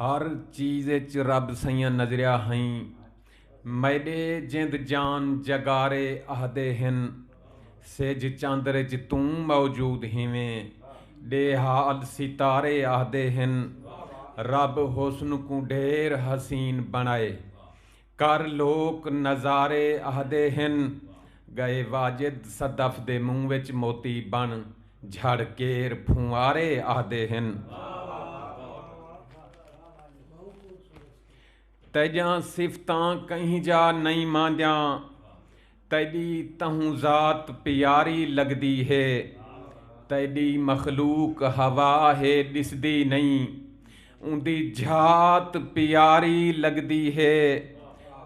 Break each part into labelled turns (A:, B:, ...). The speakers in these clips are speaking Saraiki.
A: ہر چیز اچ رب سئیاں نظریا ہئیں میݙے جند جان جگارے اہدے ہن سجھ چندر اچ توں موجود ہیویں ݙے حال ستارے اہدے ہن رب حسن کوں ڈھیر حسین بݨائے کر لوک نظارے آہدے ہن۔ گئے واجد صدف دے منہ وچ موتی بن جھڑ کیر پھنوارے آہدے ہن۔ تیجاں صفتاں کہیں جا نئیں ماندیاں۔ تیݙی تہوں ذات پیاری لڳدی ہے تیݙی مخلوق ہوا ہے ݙسدی نئیں اوندی ذات پیاری لڳدی ہے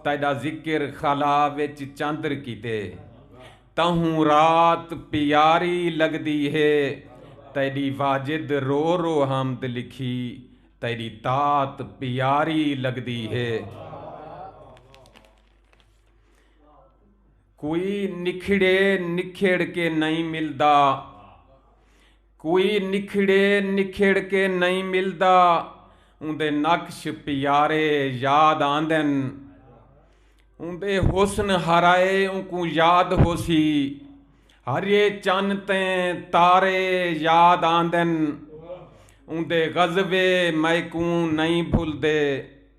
A: تیݙا ذکر خلا وچ چندر کیتے تہوں رات پیاری لڳدی ہے تیݙی واجد رو رو حمد لکھی تیݙی طاعت پیاری لڳدی ہے۔ کوئی نکھڑے نکھیڑ کے نئیں ملدا کوئی نکھڑے نکھیڑ کے نئیں ملدا اوندے نقش پیارے یاد آندن اوندے حسن ہرائے اونکوں یاد ہوسی ہریے چن تے تارے یاد آندن اوندے غزبے میکوں نئیں بھلدے